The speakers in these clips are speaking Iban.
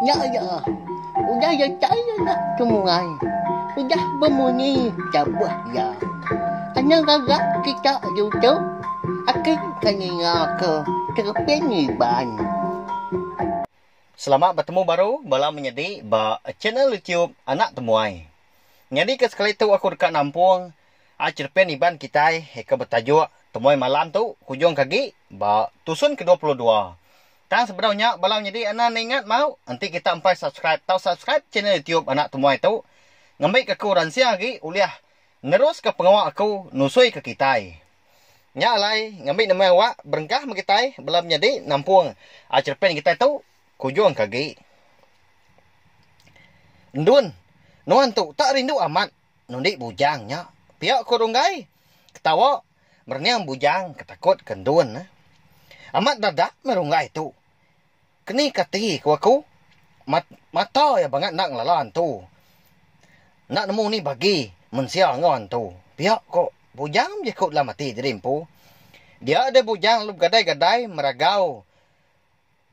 Nya iya, udah iya tai anak ke muai, udah bemunyi cabuh iya. Anang agak kita diutuh, ati ke ninga ke tereping iban. Selamat betemu baru bala menyedi ba channel YouTube Anak Temuai. Nyadi ke sekali tu aku deka nampung. A Cherpen Iban kitai ke betajuk Temuai Malam tu kujungka agi ba tusun kedua puluh dua. Tang sebedau nya bala nyadi anak enda ingat mau enti kita empai subscribe tau subscribe channel YouTube Anak Temuai tu ngambika aku ransing agi ulih neruska pengawa aku nusuika kitai. Nya alai ngambi nama awak berengkah meh kitai bala menyadi nampung A Cherpen kitai tu kujungka agi. Ndun, nuan tu tak rindu amat. Nundi bujang nya pia ko Runggai ketawa merening bujang ke takut ke endun. Amat dadak meh Runggai tu keni ke ati ko aku mat mata iya bangat enda ngelala antu enda nemu ni bagi mensia enggau antu pia ko bujang bejaku dalam ati diri empu. Dia deh bujang lalu begadai-gadai meragau.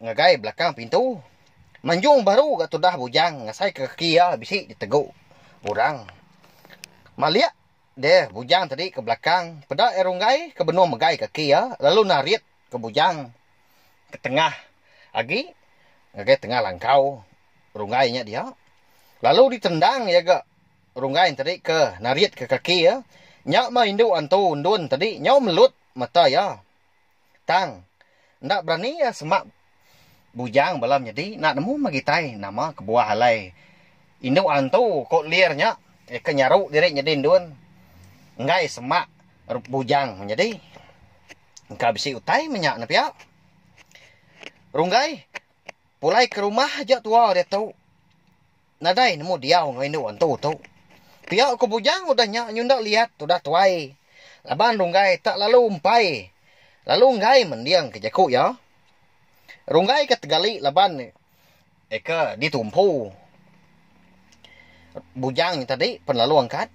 Ngagai belakang pintu. Manjung baru ga tudah Bujang ngasaika kaki iya bisi ditegu orang. Malik deh Bujang tadi ke belakang, peda iya runggai ke benung megai kaki iya lalu narit ke Bujang ke tengah agi ngagai tengah langkau runggai nya dia. Lalu ditendang iya ga runggai tadi ke naritka kaki iya. Nya mah indu antu Endun tadi nyau melut mata iya. Tang, enda berani iya semak Bujang bala menyedi enda nemu meh gitai nama kebuah alai indu antu ko Lir nya iya ke nyaru diri nyedi endun enggai semak Bujang menyedi. Engka bisi utai meh nya ne pia. Runggai, pulai ke rumah aja tua diatu. Nadai nemu diau enggau indu antu tu. Pia ku Bujang udah nya nyunda liat udah tuai laban Runggai tak lalu empai lalu enggai mending ke jaku iya. Runggai ke tegali laban eka ditumpu Bujang nya tadi pen lalu angkat.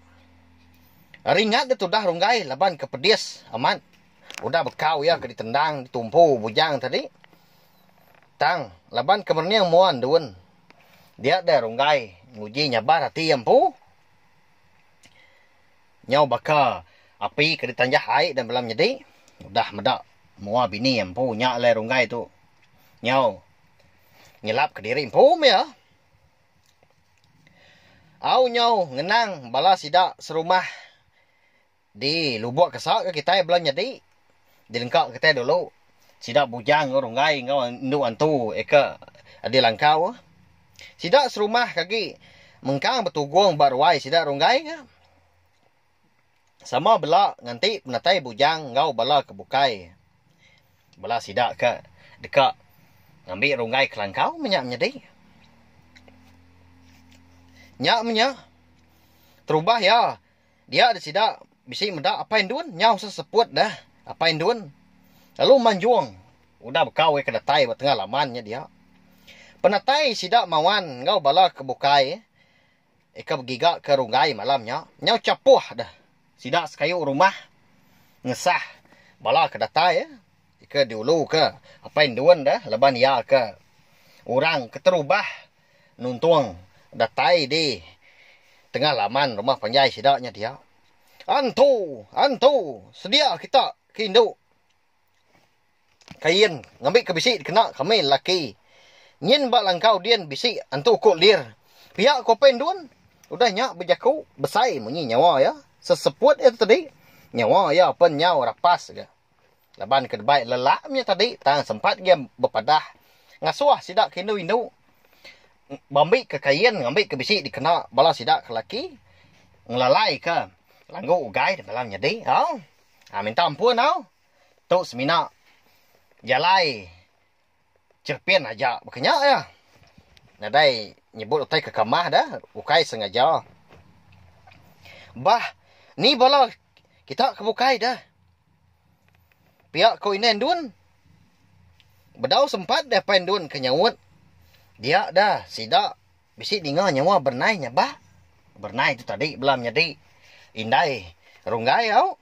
Ringat dia tudah Runggai laban ke pedis amat udah bekau iya ke ditendang ditumpu Bujang tadi tang laban ke merening mua endun. Dia deh runggai nguji nyabar ati iya empu. Nyau baka api ke ditanjah ai dan bela menyedi, udah meda mua bini iya empu nya alai runggai tu nyau nyelapka diri empu meh iya. Au nyau ngenang bala sida serumah. Di lubok kesa ke kitai bela nyadi. Di lengka kitai dulu. Sida bujang enggau runggai enggau endu antu eka di langkau. Sida serumah kagi mengkang betugong ba ruai sida runggai ka. Sama bela nganti penatai bujang enggau bala ke bukai. Bala sida ka deka ngambi runggai ke langkau meh nya menyadi. Nya meh nya terubah iya. Dia deh sida bisi meda Apai Endun nyau seseput deh Apai Endun lalu manjung udah beka wei ke datai ba tengah laman nya dia. Penatai sida Mawan enggau bala ke bukai ika begiga ke runggai malam nya nyau chapoh deh sida sekayu rumah ngesah bala ke datai ika diulu ke Apai Endun deh laban iya ke urang keterubah. Nuntung datai di tengah laman rumah panjai sida nya dia. Antu! Antu! Sedia kita ke indu. Kain ngambika bisi dikena kami lelaki. Nyin ba langkau din bisi antu ku Lir. Pia ku Apai Endun. Udah nya bejaku besai munyi nyawa iya. Seseput iya tu tadi, nyawa iya pen nyau rapas ga. Laban ke debai lelak menya tadi tang sempat gia bepadah ngasuh sida ke indu-indu bambika kain ngambika bisi dikena bala sida ke laki ngelalaika langgu ugai demi bala menyadi au minta ampun au tu semina jalai. Cherpin aja baka nya iya. Nadai nyebut utai ke kamah dah, ukai sengaja. Bah ni bala kita ke bukai dah. Pia ko indai endun. Bedau sempat deh apai endun ke nyaut. Dia dah sida bisi ninga nyawa berenai nyabak. Berenai tu tadi bela menyadi indai runggai au.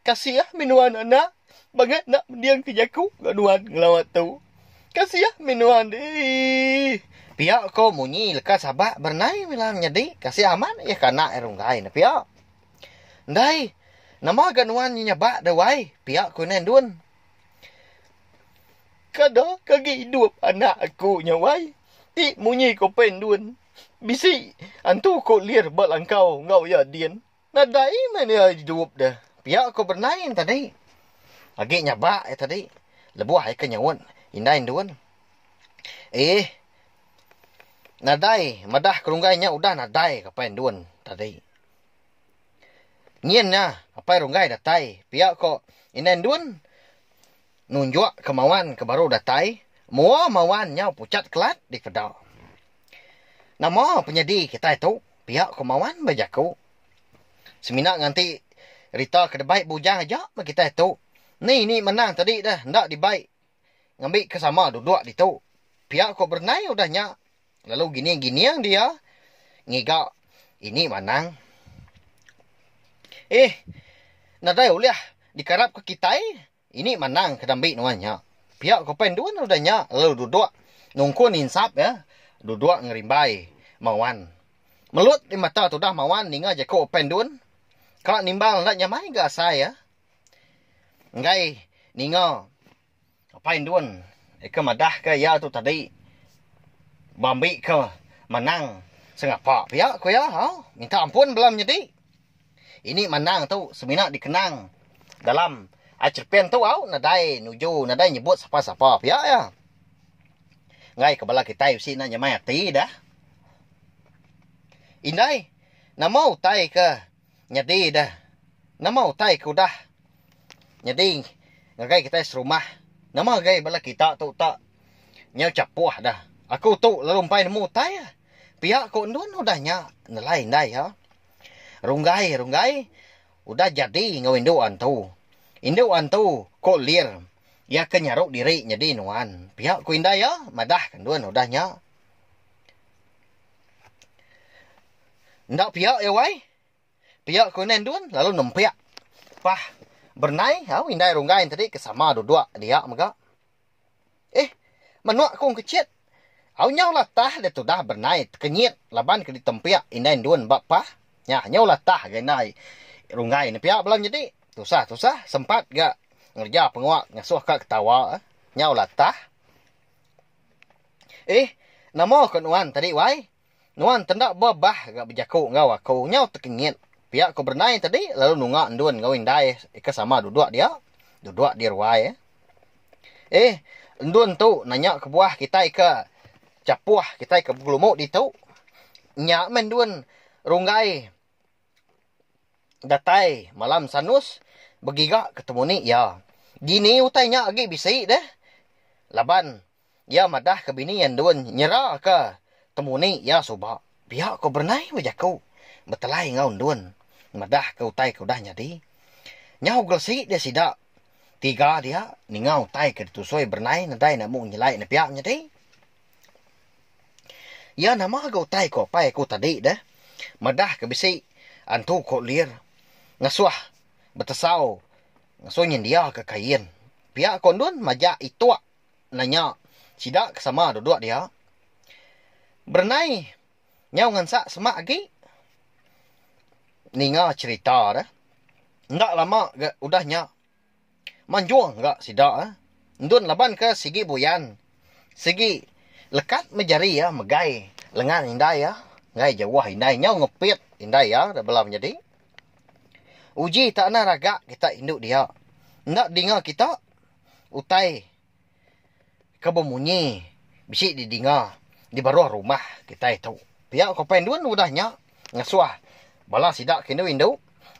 Kasiah meh nuan anak bangat enda mending ke jaku enggau nuan ngelawa tu. Kasiah meh nuan deh. Pia ko munyi leka sabak berenai mila menyadi kasiah amat iya ke anak iya runggai ne pia. Ndai nama ga nuan nyebak deh wai pia ko indai endun. Kada ke agi idup anak aku nya wai ti munyi ko pei endun bisi antu ko lir ba langkau enggau iya din. Nadai meh iya idup deh. Pia ku Bernain tadi. Agi nyabak iya tadi. Lebuh ai ke nyaut indai endun. Eeh. Nadai madah ke runggai nya udah nadai ke apai endun tadi. Nyin nya apai runggai datai. Pia ko indai endun nunjuk ke mawan ke baru datai. Mua mawan nyau pucat kelat dipeda. Nama penyadi kitai tu. Pia ko Mawan ba jaku. Semina nganti Rita ke debai bujang aja meh kitai tu. Ni ni menang tadi deh enda dibai ngambi ke sama duduk ditu. Pia ko Bernai udah nya lalu gining gining dia ngiga ini manang. Ih nadai ulih dikarap ke kitai Ini manang ke dambi nuan nya. Pia ko pen dua noda nya lalu dudok nungkun insap iya, dudok ngerimbai Mawan. Melut di mata tudah Mawan ninga jaku pen dun ka nimbal enda nyamai ga asai iya enggai ninga pen dun ke madah ke iya tu tadi bambi ke manang sengapa pia ko iya hau minta ampun bela menyedi. Ini mandang tu semina dikenang dalam Acerpen tu au nadai nuju nadai nyebut sapa-sapa pia iya. Enggai ke bala kitai bisi enda nyemai ati dah. Indai nama utai ke nyadi dah. Nama utai ke udah nyadi ngagai kitai serumah. Nama ngagai bala kita tu tak nyau chapoh dah. Aku tu lalu empai nemu utai pia ko endun udah nya nelai indai iya. Runggai, Runggai, udah jadi enggau indu antu. Indu antu, ko Lir, iya ke nyaru diri nyadi nuan. Pia ko indai iya, madah kendun udah nya. Enda pia iya wai. Pia ko indai endun lalu nempik. Pah berenai au indai Runggai enti tadi ke sama dudok dia mega. Ih, menua kong kecit. Au nyau latah deh tudah bernai tekenyit laban ke ditempik indai endun ba pah. Nyah nyau latah ga indai runggai ne pia bala nyedi. Tusah tusah sempat ga ngereja pengawa ngesuh ka ketawa. Nyau latah. Ih, nama ko nuan tadi wai? Nuan tenda ba bah ga bejaku enggau aku nyau tekengit pia ku berenai tadi lalu nunga endun enggau indai ke sama duduk dia duduk di ruai. Eh endun tu nanya kebuah kitai ke chapoh kitai ke begelumu ditu nya meh endun runggai datai malam sanus begiga ketemu ni iya. Dini utai nya agi bisi deh laban Iya madahka bini iya endur nyeraka temuni iya suba. Pia ko Bernai meh jaku betelai enggau endur madahka utai ke udah nyadi. Nyau gelesi dia sida tiga dia ninga utai ke ditusui Bernai nadai enda mung nyelai ne pia nyadi. Iya nama ga utai ko apai aku tadi deh madahka bisi antu ko lir ngasuh betesau ngasuh nyendiaka kain. Pia ko endur majak itok. nanya sida ke sama duduk dia, Berenai nyau ngansak semak agi? Ninga cherita deh, enda lama ga udah nya, manjung ga sida endun laban ke sigi buyan, sigi lekat meh jari iya megai lengan indai iya enggau jauh indai nyau ngepit indai iya dah bela menyadi. Uji tak anang raga kita indu dia, enda dinga kita. utai ke bemunyi bisi didinga di baruh rumah kitai tu. Pia ko pen dun udah nya ngesuh bala sida ke indu indu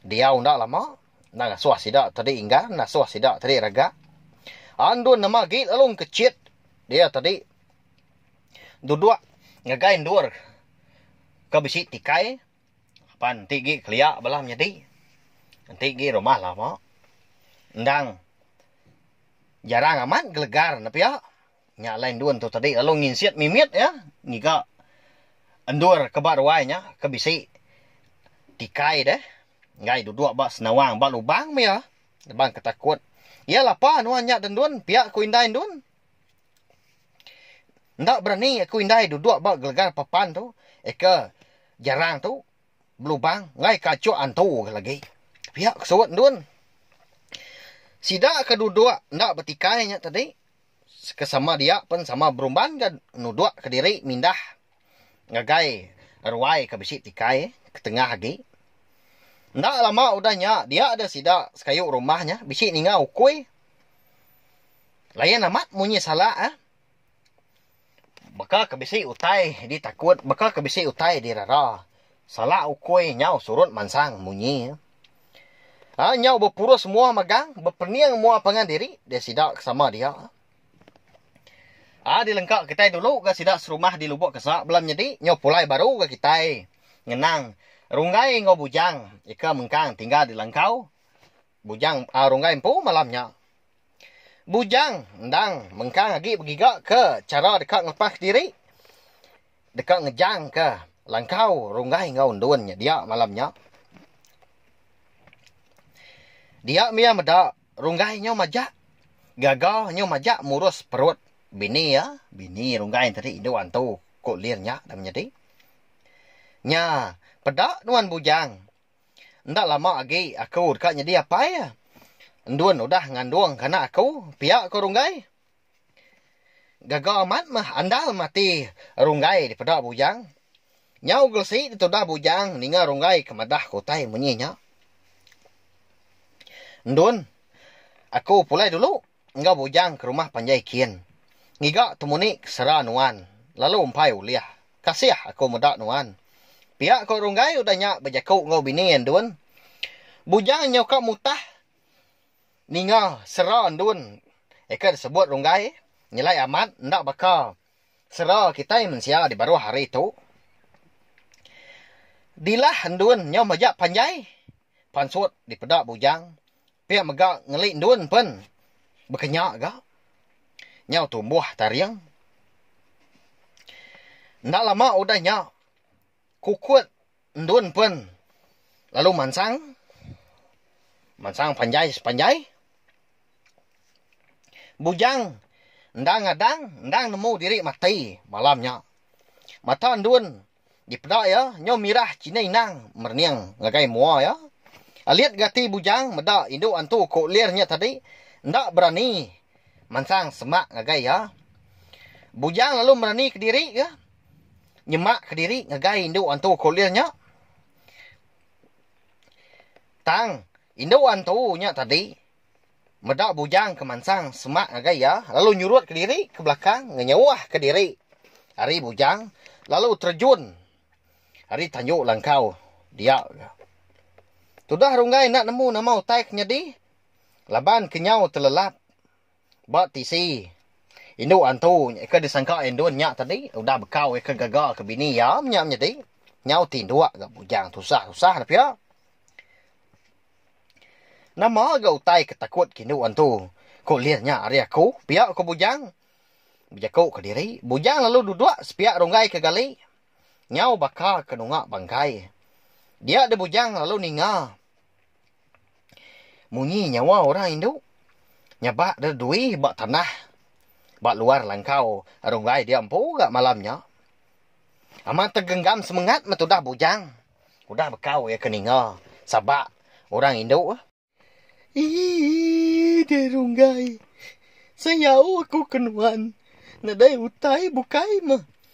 diau enda lama enda ngesuh sida tadi inggan enda ngesuh sida tadi regak. Andun nama agi lalu engkechit dia tadi duduk ngagai endur ke bisi tikai. Apan enti agi kelia bala menyadi, enti agi rumah lama endang jarang amat gelegar ne pia. Nya alai endun tu tadi lalu nginsit mimit iya ngiga endur ke ba ruai nya ke bisi tikai deh enggai duduk ba senawang ba lubang meh iya, lubang ke takut. Iya lapa nuan nya den endun pia ku indai endun. Enda berani aku indai duduk ba gelegar papan tu, eka jarang tu belubang enggai ka achuk antu ga lagi. Pia ke suwut endun. Sida ke duduk enda betikai nya tadi ke sama dia pen sama berumban ga nuduk kediri mindah. ngagai ruai ke bisi tikai ketengah agi. Enda lama udah nya dia deh sida sekayu rumah nya bisi ninga ukui. Layan amat munyi salak eh. Baka ke bisi utai ditakut, baka ke bisi utai dirara. Salak ukui nyau surut mansang munyi eh. Nyau bepurus muah magang, bepening muah pangan diri deh sida ke sama dia. A dilengka kitai dulu ga sida serumah di Lubok Kesa bela menyedi nyau pulai baru ga kitai ngenang Runggai enggau Bujang ika mengkang tinggal di Langkau. Bujang a Runggai empu malam nya. Bujang endang mengkang agi begiga ke chara deka ngelepas diri deka ngejangka Langkau Runggai enggau Endun nyedia malam nya. Dia mih iya meda. Runggai nyau majak gaga nyau majak murus perut bini iya. Bini Runggai tadi indu antu ku Lin nya dah menyadi. Nya, peda nuan bujang. Enda lama agi aku deka nyadi apai. Endun udah ngandung ke anak aku, pia ko Runggai. Gaga amat meh andal mati Runggai dipeda Bujang. Nyau gelesi ditudah Bujang ninga Runggai ke madah ke utai munyi nya. Ndun, aku pulai dulu enggau Bujang ke rumah panjai kin. Ngiga temuni ke sera nuan, lalu empai ulih. Kasih aku meda nuan. Pia ko Runggai udah nya bejaku enggau bini iya Ndun. Bujang nyau ka mutah. Ninga sera ndun eka disebut runggai nyelai amat enda baka sera kitai mensia di baruh hari tu. Dilah ndun nyau majak panjai pansut dipeda bujang pia mega ngeli ndun pen bekenya ga nyau tumbuh taring. Enda lama udah nya. Kukut endun pen lalu mansang, mansang panjai sepanjai. Bujang enda ngadang, endang nemu diri mati malam nya. Mata endun dipeda iya nyau mirah chinik inang merening ngagai mua iya. Alit ga ati bujang meda indu antu ko Lir nya tadi enda berani mansang semak ngagai iya. Bujang lalu merani kediri ga. nyemak kediri ngagai indu antu Kolil nya. Tang, indu antu nya tadi meda bujang ke mansang semak ngagai iya lalu nyurut kediri ke belakang ngenyauah kediri ari bujang lalu terjun ari tanju langkau dia. Tudah Runggai enda nemu nama utai ke nyadi laban kenyau telelap. Ba tisi, indu antu ke disangka Endon nya tadi udah bekau ke gaga ke bini iya menya menyadi nyau tinduk ga bujang tusah-tusah ne pia. Nama ga utai ke takut ke indu antu ko lih nya ari aku pia ko bujang. Bejaku kediri, bujang lalu duduk sepia runggai ke gali nyau baka ke nunga bangkai. Dia deh bujang lalu ninga. Munyi nyawa orang indu nyabak deh dui ba tanah ba luar langkau runggai dia empu ga malam nya. Amat tegenggam semengat meh tudah bujang udah bekau iya ke ninga sabak orang indu. Eii deh runggai sayau aku ke nuan nadai utai bukai meh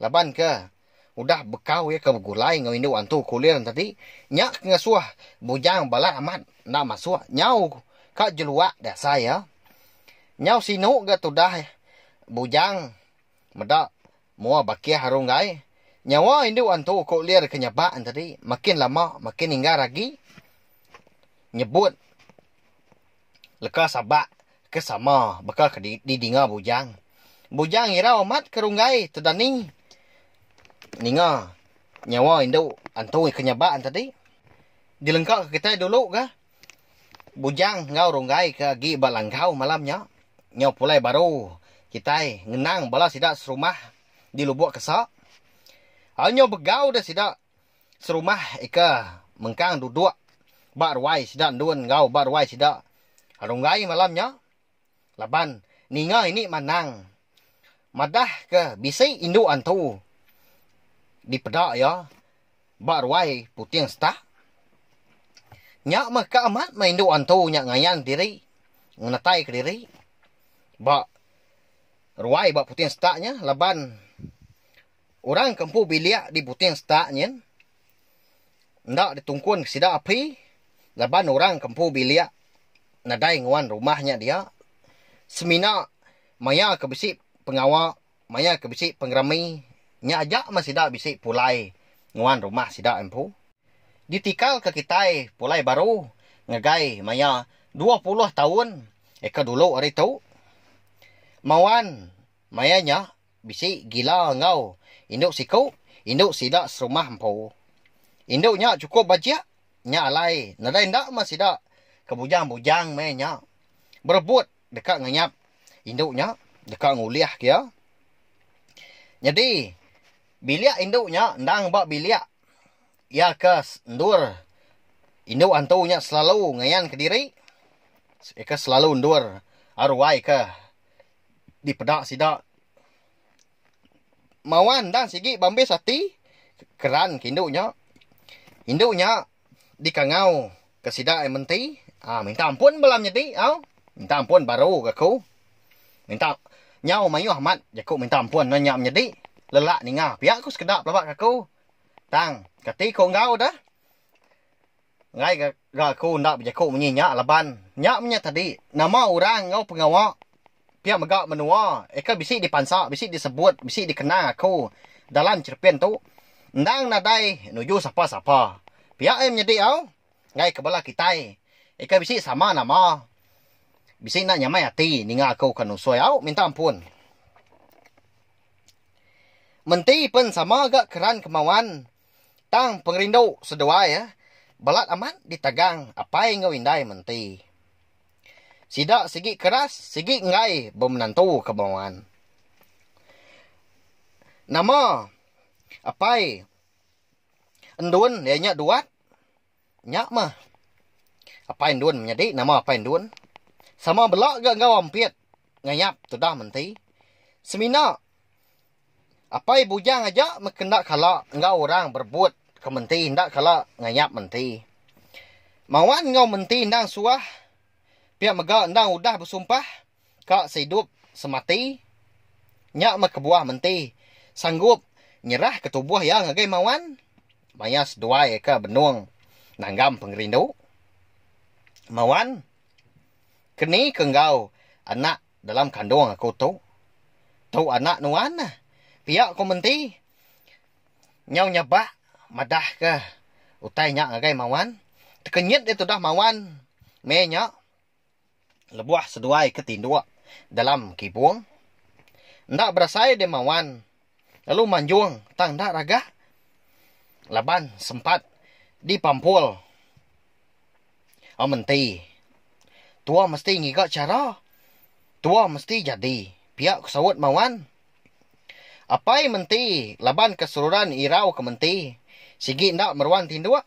Laban ke udah bekau iya ke begulai enggau indu antu kulir tadi nya ke ngesuh Bujang balat amat enda masuk nyau ka jeluak deh asai iya. Nyau sinu ga tudah Bujang meda mua bakih aru enggai nyawa indu antu kulir ke nyabak tadi makin lama makin inggar agi nyebut. leka sabak ke sama baka ke didinga Bujang. Bujang irau amat ke runggai tedani ninga nyawa indu Antoi ke nyabak tadi. Dilengka ke kitai dulu ga Bujang enggau runggai ke agi ba Langkau malam nya. Nyau pulai baru kitai ngenang bala sida serumah di Lubok Kesa. Au nyau begau deh sida. Serumah ika mengkang duduk ba ruai sida endun enggau ba ruai sida Runggai malam nya laban ninga ini manang madah ke bisi indu antu dipeda iya ba ruai Puting Setak. Nya meh ka amat meh indu antu nya ngayan diri ngenatai kediri ba ruai ba Puting Setak nya laban. Orang ke empu bilik di buting setak nyin enda ditungkunka sida api laban orang ke empu bilik nadai nguan rumah nya dia semina maya ke bisi pengawa maya ke bisi pengerami nya aja meh sida bisi pulai nguan rumah sida empu. Ditikalka kitai pulai baru ngagai maya dua puluh taun eka dulu ari tu. Mauan maya nya Bisi gila enggau indu siku, indu sida serumah empu. Indu nya chukup bajik, nya alai nadai enda meh sida ke bujang-bujang meh nya berebut deka nganyap indu nya deka ngulihka iya. Nyadi bilik indu nya endang ba bilik iya ke endur. Indu antu nya selalu ngayanka diri, iya ke selalu endur aruai ke dipeda sida mawa endang sigi bambis ati keran ke indu nya indu nya dikangau ke sida yang menti um minta ampun bala menyadi au minta ampun baru ga ku minta nyau maioh amat jaku minta ampun ngan nya menyadi lelak ninga pia ku sekeda pelaba ga ku tang kati ku enggau da. Enggai ga ga aku enda bejaku munyi nya laban nya menya tadi nama orang enggau pengawa pia mega menua eka bisi dipansa bisi disebut bisi dikenang aku dalam cherepin tu endang nadai nuju sapa-sapa. Pia ai menyadi au enggai ke bala kitai eka bisi sama nama bisi enda nyamai ati ninga aku ke nusoi au minta ampun. Menti pen sama ga keran kemauan. Tang pengerindu seduai belat amat ditagang apai enggau indai menti. Sida sigi keras sigi enggai bemenantu ke Bengowan. Nama apai Endun iya nya Duat? Nya mah. Apai Endun menyadi nama Apai Endun sama bela ga enggau Ampit Ngayap tudah menti. Semina Apai Bujang aja meh ke enda kala enggau orang berebut ke menti enda kala ngayap menti. Mawan enggau menti endang suah pia mega endang udah besumpah. Ka seidup semati. Nya meh kebuah menti sanggup nyerahka tubuh iya ngagai Mawan maya seduai ke benung nanggam pengerindu. Mawan, keni ke enggau anak dalam kandung aku tu? Tu anak nuan neh, pia ku menti nyau nyabak madahka utai nya ngagai Mawan. Tekenyit dia tudah Mawan meh nya. Lebuh seduai ke tinduk dalam kibung, enda berasai demawan lalu manjung tang enda ragah laban sempat dipampul menti. Tua mesti ngiga chara, tua mesti jadi, pia ku saut mawan. Apai menti laban ke seruran irau ke menti sigi enda meruan tinduk.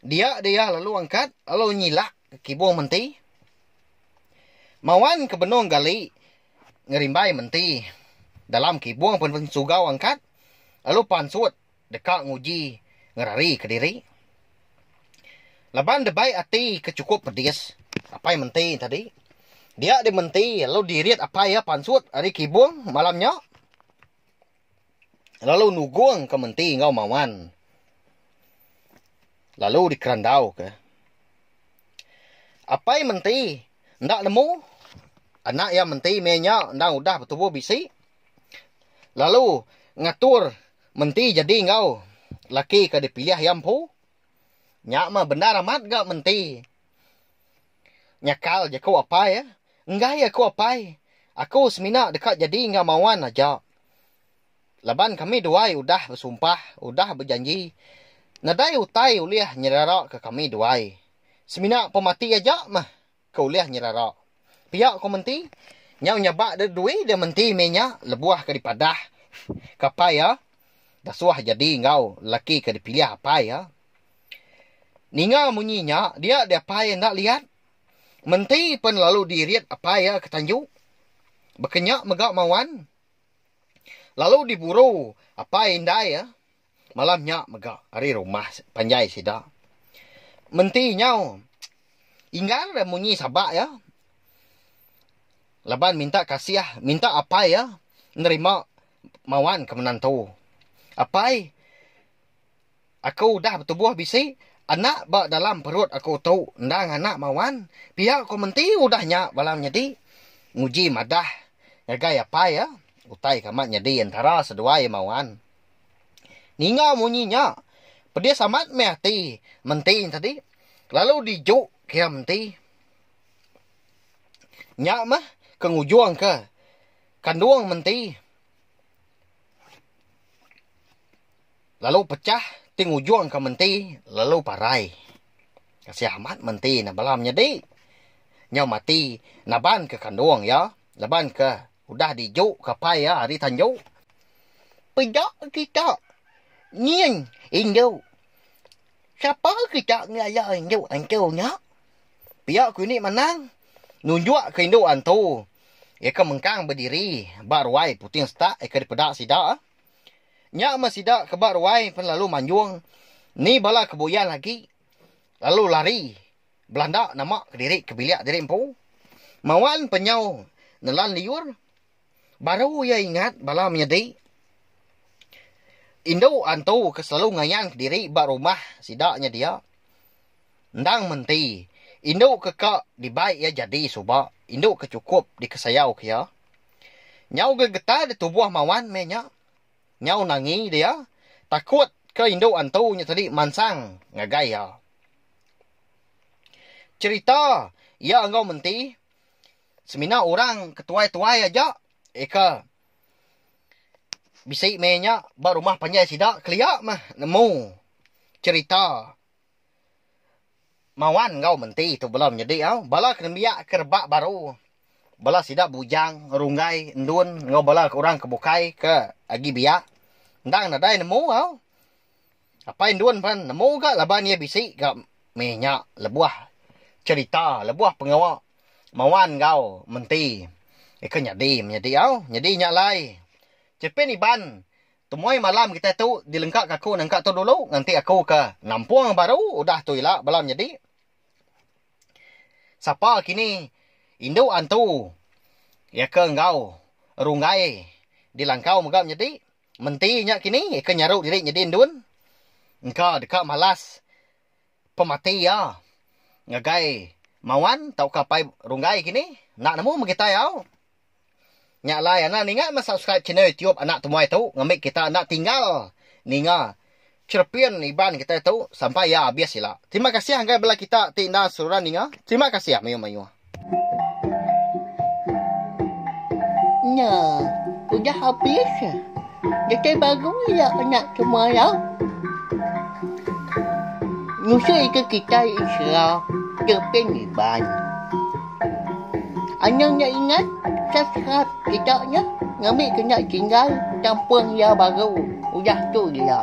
Dia dia lalu angkat lalu nyilak ke kibung menti. Mawan ke benung gali ngerimbai menti. Dalam kibung pen pen sugau angkat lalu pansut deka nguji ngerari ke diri. Laban debai ati ke cukup pedis apai menti tadi. Dia dia menti lalu dirit apai iya pansut ari kibung malam nya. lalu nugungka menti enggau mawan lalu dikerandauka. Apai menti enda nemu anak iya menti meh nya endang udah betubuh bisi lalu ngatur menti jadi enggau laki ke dipilih iya empu nya mah bendar amat ga menti. Nyakal je ku apai. Enggai iya ku apai. Aku semina deka jadi enggau Mawan aja. Laban kami duai udah besumpah, udah bejanji. Nadai utai ulih nyeraraka kami duai. Semina pemati aja meh ke ulih nyerara. Pia ku menti. Nyau nyabak deh dui deh menti meh nya lebuh ke dipadah ka apai iya dasuh jadi enggau lelaki ke dipilih apai iya. Ninga munyi nya, dia di apai enda liat. Menti pen lalu di rit apai iya ke tanju. Bekenya mega mawan. Lalu di buru apai indai iya. Malam nya mega ari rumah panjai sida. Menti nyau Inggar da munyi saba iya laban minta kasih, minta apai iya nerima mawan ke menantu. Apai. Aku udah betubuh bisi anak ba dalam perut aku tu endang anak Mawan, pia ku menti udah nya bala menyedi nguji madah ngagai apai iya utai ke amat nyadi entara seduai Mawan. Ninga munyi nya, pedis amat meh ati menti tadi lalu diju kira menti. Nya meh ke ngujungka kandung menti. Lalu pechah ti ngujung ka menti lalu parai. Kasih amat menti nya bala menyedi. Nyau mati naban ke kandung iya laban ke udah di ju ke apai iya ari tanju. Peda kita nyin indu. Sapa kita ngelala indu antu nya. Pia ku indi manang nunjuk ke indu antu iya ke mengkang bediri ba ruai puting setak iya ke dipeda sida. Nya meh sida ke ba ruai pen lalu manjung ni bala ke buyan agi lalu lari belanda nama kediri ke bilik diri empu. Mawan pen nyau nelan liur baru iya ingat bala menyadi indu antu ke selalu ngayan kediri ba rumah sida nya dia. Endang menti indu ke ka dibai iya jadi suba indu ke chukup dikesayau ke iya. Nyau gegetar di tubuh Mawan meh nya. Nyau nangi dia takut ke indu antu nya tadi mansang ngagai iya. Cherita iya enggau menti semina orang ke tuai-tuai aja eka bisi meh nya ba rumah panjai sida kelia meh nemu cherita. Mawan enggau menti tu bela menyedi au. Bala ke nembiak ke rebak baru, bala sida bujang, runggai, endun enggau bala orang ke bukai ke agi biak endang nadai nemu au. Apai endun pan nemu ga laban iya bisi ga meh nya lebuh cherita, lebuh pengawa Mawan enggau menti iko nyadi menyedi au. Nyadi nya alai. Chepin Iban Temuai malam kitai tu dilengka ka aku nengka tu dulu nganti aku ke nampung baru udah tu ila bala menyedi. Sapa kini indu antu iya ke enggau runggai dilangkau mega menyedi. Menti nya kini iya ke nyaru diri nyedi endun engka deka malas. pemati iya ngagai mawan tauka apai runggai kini enda nemu meh kitai au. Nya alai anang ninga meh subscribe channel YouTube anak temuai tu ngambi kita enda tinggal ninga cherepin Iban kitai tu sampai iya abis ila. Terima kasih ngagai bala kita ti enda seruran ninga. Terima kasih mayuh-mayuh. Nya udah habis. Datai baru iya nya semalam. Nusa ika kitai Isra teping Iban. Anang nya ingat sasrat kita nya ngambi ke nya tinggal kampung iya baru. Udah tu gila.